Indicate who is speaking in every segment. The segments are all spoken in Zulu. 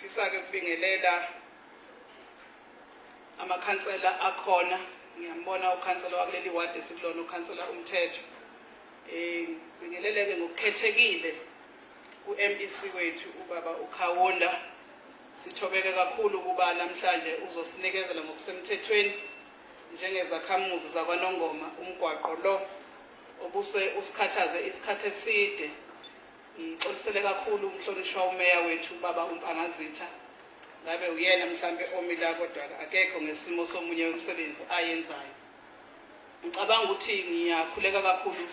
Speaker 1: Ngifisa-ke ukubingelela amakhansela akhona ngiyambona ukhansela wakuleli wadi esikulona ukhansela umthetho um ngibingeleleke ngokukhethekile ku-mec wethu ubaba ukhawunda sithobeke kakhulu ukuba namhlanje uzosinikezela ngokusemthethweni njengezakhamuzi zakwanongoma umgwaqo lo obuse usikhathaze isikhathi eside Ngixolisele kakhulu umhlonishwa umeya wethu ubaba uMpangazitha. Ngabe uyena mhlambe omi la kodwa akekho ngesimo somunye wemisebenzi ayenzayo. Ngicabanga ukuthi ngiyakhuleka kakhulu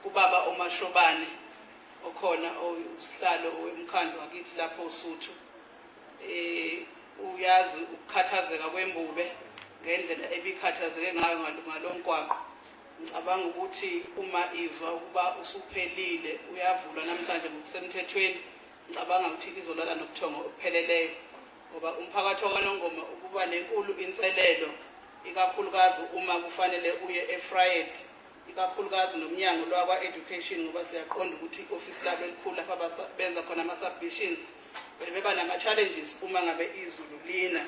Speaker 1: kubaba oMashobane okhona usihlalo wemkhandlu wakithi lapho uSuthu. Eh uyazi ukukhathazeka kwembube ngendlela ebikhathazeke ngayo ngalomgwaqo. Ngicabanga ukuthi uma izwa ukuba usuphelile uyavulwa namhlanje ngokusemthethweni, ngicabanga ukuthi izolala nobuthongo obupheleleyo ngoba umphakathi waKwaNongoma ububa nenkulu inselelo ikakhulukazi uma kufanele uye eFryed ikakhulukazi nomnyango lwakwa-education ngoba siyaqonda ukuthi i-ofisi labo elikhulu lapha benza khona ama-submissions beba nama-challenges uma ngabe izulu lina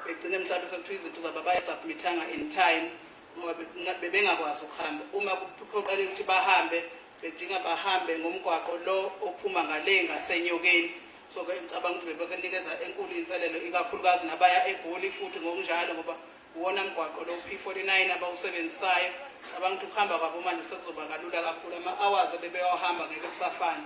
Speaker 1: begcine mhlawumbe sekuthiwa izinto zabo abayisubmithanga in time ngoba bebengakwazi ukuhamba uma kuphoqele ukuthi bahambe bedinga bahambe ngomgwaqo lo ophuma ngale ngasenyokeni so ke ngicabanga ukuthi bebekenikeza enkulu inselelo ikakhulukazi nabaya egoli futhi ngokunjalo ngoba uwona mgwaqo lo P49 abawusebenzisayo cabanga ukuthi ukuhamba kwabo manje sekuzoba kalula kakhulu ama-hours ebebewahamba ngeke kusafana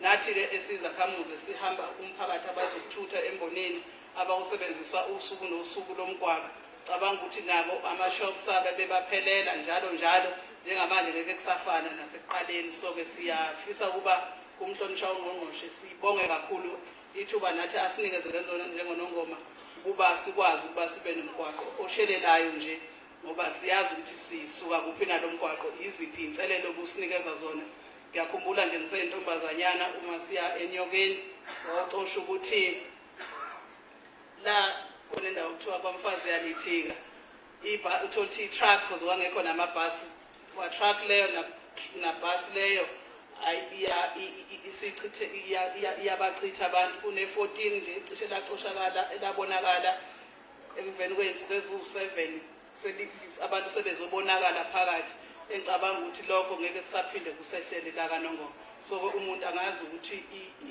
Speaker 1: nathi-ke esizakhamuze sihamba umphakathi abazokuthutha embonini abawusebenzisa usuku nosuku lomgwaqo cabanga ukuthi nabo ama-shops abe bebaphelela njalo njalo njengamanje ngeke kusafana nasekuqaleni so-ke siyafisa ukuba kumhlonishwa ungqongqoshe sibonge kakhulu ithuba nathi asinikezele lona njengonongoma ukuba sikwazi ukuba sibe nomgwaqo oshelelayo nje ngoba siyazi ukuthi sisuka kuphi nalo mgwaqo yiziphi iy'nselelo obusinikeza zona ngiyakhumbula nje ngiseyentombazanyana uma siya enyokeni wacosha ukuthi la kone ndawo kuthiwa kwamfazi yalithika iba uthole ukuthi i-truck because wangekho namabhasi wa-truck leyo nabhasi leyo iyabachitha abantu kune-14 nje cishe lacoshakala elabonakala emveni kwensuku eziwu-7 abantu sebezobonakala phakathi engicabanga ukuthi lokho ngeke sisaphinde kusehlele lakanongoma so-ke umuntu angazi ukuthi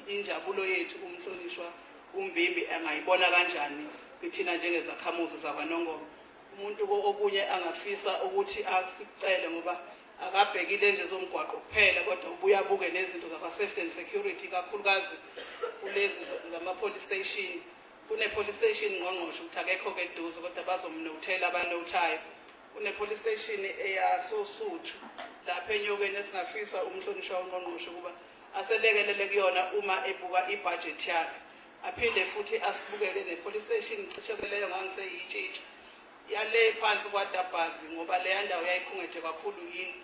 Speaker 1: injabulo yethu umhlonishwa uMbimbi angayibona kanjani kithina njengezakhamuzi zakwaNongoma umuntu okunye angafisa ukuthi asicele ngoba akabhekile nje zomgwaqo kuphela kodwa ubuye abuke nezinto zakwa-safety and security kakhulukazi kulezi zama-police station kune-police station ngqongqosho ukuthi akekho-ke eduze kodwa bazomnothela abanothayo kune-police station eyasosuthu lapha enyokeni esingafisa umhlonishwa ungqongqosho ukuba aselekelele kuyona uma ebuka ibhajethi yakhe aphinde futhi asibukele ne-police station cishoke leyo ngangiseyitshitsha yale phansi kwadabhazi ngoba leya ndawo yayikhungethe kakhulu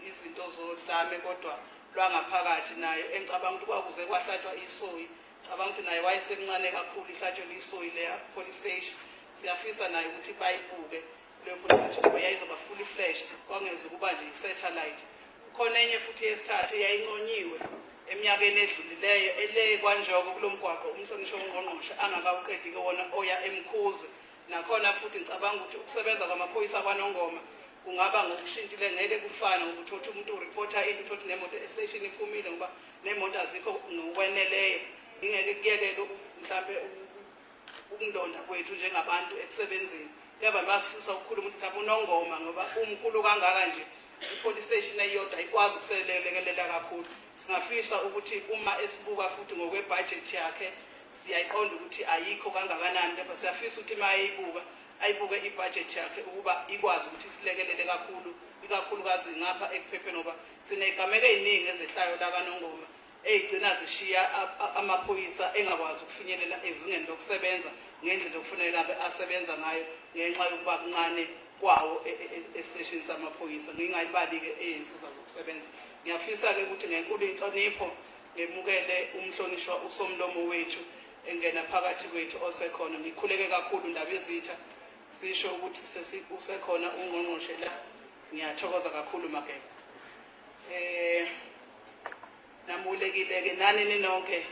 Speaker 1: izinto zodlame kodwa lwangaphakathi nayo engicabanga ukuthi kwakuze kwahlatshwa isoyi cabanga ukuthi naye wayesemncane kakhulu ihlatshelwe isoyi leya police station siyafisa naye ukuthi bayibuke lwepolice ngoba yayizoba fully flashed kwangeza ukuba nje i-satellite khona enye futhi yesithathu yayinconyiwe eminyakeni edlulileyo ele kwanjoko kulo mgwaqo umhlonishwa ungqongqoshe angakawuqedi-ke wona oya emkhuze nakhona futhi ngicabanga ukuthi ukusebenza kwamaphoyisa kwanongoma kungaba ngokushintile ngeke kufane ngokuthi othi umuntu ureporta into uthi othi nemoto estation iphumile ngoba nemoto azikho ngokweneleyo ingeke kuyeke-ke mhlawumbe Ukundonda kwethu njengabantu ekusebenzeni kuyaba lwasifusa ukukhuluma ukuthi mhlawumbe unongoma ngoba umkhulu kangaka nje i-police station eyodwa ikwazi ukuselelekelela kakhulu singafisa ukuthi uma esibuka futhi ngokwebhajethi yakhe siyayiqonda ukuthi ayikho kangakanani kepha siyafisa ukuthi uma ayibuka ayibuke ibhajethi yakhe ukuba ikwazi ukuthi isilekelele kakhulu ikakhulukazi ngapha ekuphepheni ngoba sinegameko eziningi ezehlayo lakanongoma eyigcina zishiya amaphoyisa engakwazi ukufinyelela ezingeni lokusebenza ngendlela okufuneka abe asebenza ngayo ngenxa yokuba kuncane kwawo e, e, e, esiteshini samaphoyisa ngingayibali-ke eyensiza zokusebenza ngiyafisa-ke ukuthi ngenkulu inhlonipho ngemukele umhlonishwa usomlomo wethu engena phakathi kwethu osekhona ngikhuleke kakhulu ndaba ezitha sisho ukuthi usekhona ungqongqoshe la ngiyathokoza kakhulu mageba eh namulekile ke nani ninonke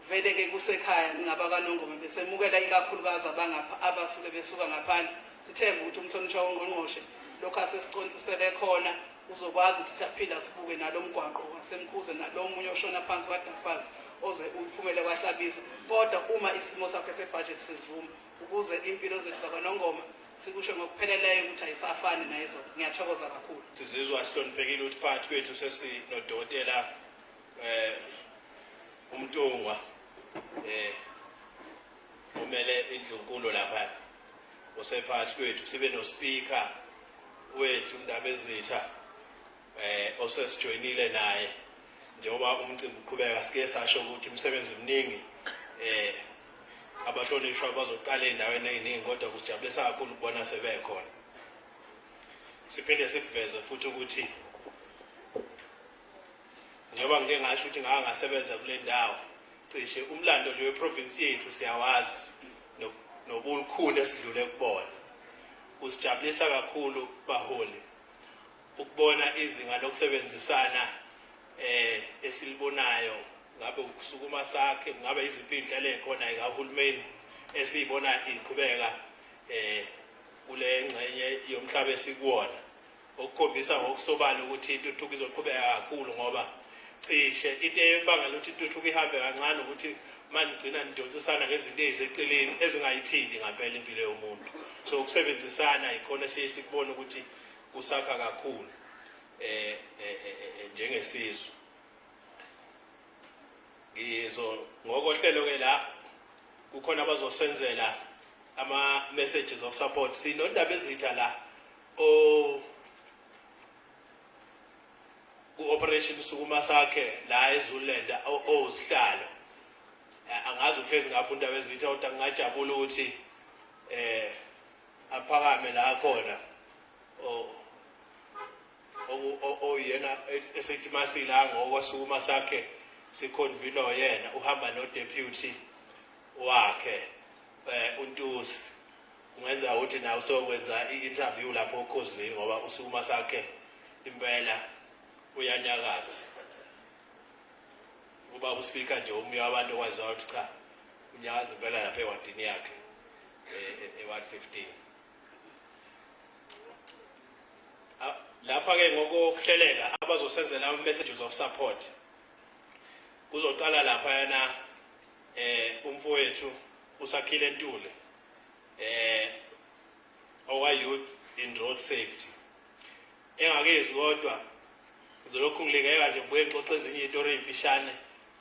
Speaker 1: vele ke kusekhaya ngaba kanongoma besemukela ikakhulukazi abangapha abasuke besuka ngaphandle sithemba ukuthi umhlonishwa wongqongqoshe lokho asesicontsisele khona uzokwazi ukuthi siyaphila sibuke nalo mgwaqo wasemkhuze nalo omunye oshona phansi kwadaphazi oze uphumele kwahlabisa kodwa uma isimo sakhe sebhajethi sesivuma ukuze impilo zethu zakwanongoma sikusho ngokupheleleyo ukuthi ayisafani nayizona ngiyathokoza kakhulu sizizwa sihloniphekile
Speaker 2: ukuthi phakathi kwethu sesinodokotela eh umntungwa eh umele indlunkulu lapha osephathi kwethu sibe no speaker wethu ndabezitha eh osesijoyinile naye njengoba umcimbi uqhubeka sike sasho ukuthi umsebenzi mningi eh abahlonishwa bazoqala endaweni eziningi kodwa kusijabulisa kakhulu ukubona sebekhona siphinde sikuveze futhi ukuthi njengoba ngike ngasho ukuthi ngake ngasebenza kule ndawo cishe umlando nje weprovinsi yethu siyawazi nobulukhulu esidlule kubona kusijabulisa kakhulu baholi ukubona izinga lokusebenzisana eh esilibonayo ngabe ukusukuma sakhe ngabe iziphi indlela ekhona ikahulumeni esiyibona iqhubeka eh kule ngxenye yomhlaba esikuwona okukhombisa ngokusobala ukuthi intuthuko izoqhubeka kakhulu ngoba cishe into ebangela ukuthi intuthuko ihambe kancane ukuthi manigcina nidonsisana ngezinto eziseceleni ezingayithinti ngampela impilo yomuntu so ukusebenzisana yikhona siye sikubona ukuthi kusakha kakhulu eh, eh, eh, eh njengesizwe ngizo ngokohlelo ke la kukhona abazosenzela ama messages of support sinondaba ezitha la o ku operation sukuma sakhe la eZululand ozihlalo angazi uphezi ngapha undaba ezitha uthi ngingajabula ukuthi eh aphakame la khona oyena esethi masila ngokwasukuma sakhe sikhonvino yena uhamba nodeputy wakhe eh untusi kungenza ukuthi na usokwenza i-interview lapho okhozini ngoba usukuma sakhe impela uyanyakaza uba uspeaker nje umnye wabantu okwaziwa ukuthi cha unyakaza impela lapha ewadini yakhe e-ward 15 lapha-ke ngokokuhleleka abazosenzela ama-messages of support kuzoqala laphayana eh umfowethu usakhile ntule eh owa youth in road safety engakezwi kodwa ngizolokhu ngilingeka nje ngibuye ngixoxe ezinye izitori ey'mfishane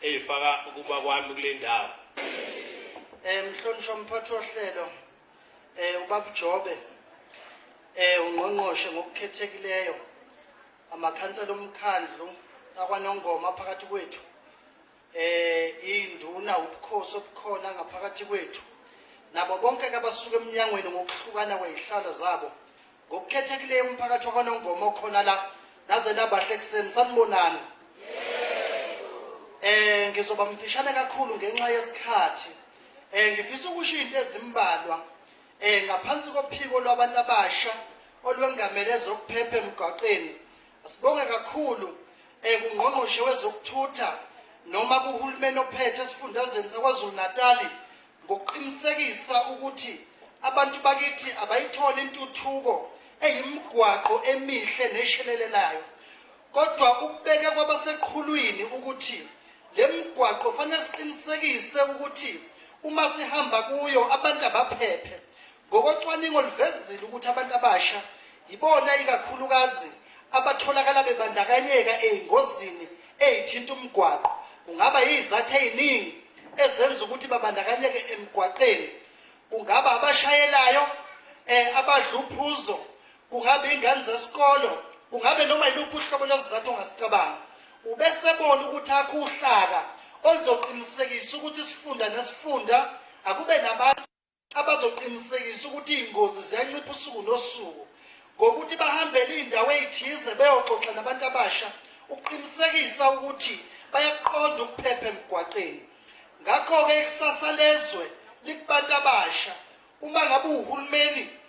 Speaker 2: ey'faka ukuba kwami kule ndawo um mhlonishwa
Speaker 3: mphathi wohlelo um eh, ubabujobe um eh, ungqongqoshe ngokukhethekileyo amakhansela omkhandlu akwanongoma phakathi kwethu eh induna ubukhosi obukhona ngaphakathi kwethu nabo bonke abasuka eminyangweni ngokuhlukana kwezihlalo zabo Ngokukhethekileyo umphakathi wakwaNongoma okhona la naze nabahle ekuseni sanibonani eh ngizoba mfishane kakhulu ngenxa yesikhathi eh ngifisa ukusho into ezimbalwa eh ngaphansi kophiko lwabantu abasha olwengamele zokuphepha emgwaqeni sibonge kakhulu eh kungqongqoshe wezokuthutha noma kuhulumeni ophethe esifundazweni saKwaZulu-Natali ngokuqinisekisa ukuthi abantu bakithi abayitholi intuthuko eyimgwaqo emihle neshelelelayo kodwa ukubeka kwabaseqhulwini ukuthi le mgwaqo fanele siqinisekise ukuthi uma sihamba kuyo abantu abaphephe Ngokocwaningo luvezile ukuthi abantu abasha yibona ikakhulukazi abatholakala bebandakanyeka ey'ngozini ey'thinta umgwaqo kungaba yizathu ey'ningi ezenza ukuthi babandakanyeke emgwaqeni kungaba abashayelayo eh abadla uphuzo kungaba ingane zesikolo kungabe noma yiluphi uhlobo lwesizathu ongasicabanga ubesebona ukuthi akho uhlaka oluzoqinisekisa ukuthi isifunda nesifunda akube nabantu abazoqinisekisa ukuthi iy'ngozi ziyancipha usuku nosuku ngokuthi bahambele iy'ndawo ey'thize beyoxoxa nabantu abasha ukuqinisekisa ukuthi bayakuqonda ukuphepha emgwaqeni ngakho-ke ikusasa lezwe likubantu abasha uma ngabe uhulumeni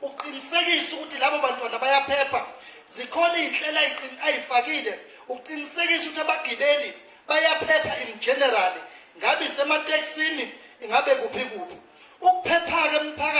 Speaker 3: ukuqinisekisa ukuthi labo bantwana bayaphepha zikhona iy'nhlelo ayifakile ukuqinisekisa ukuthi abagibeli bayaphepha in general ngabe isematekisini ingabe kuphi kuphi ukuphepha-ke mphakathi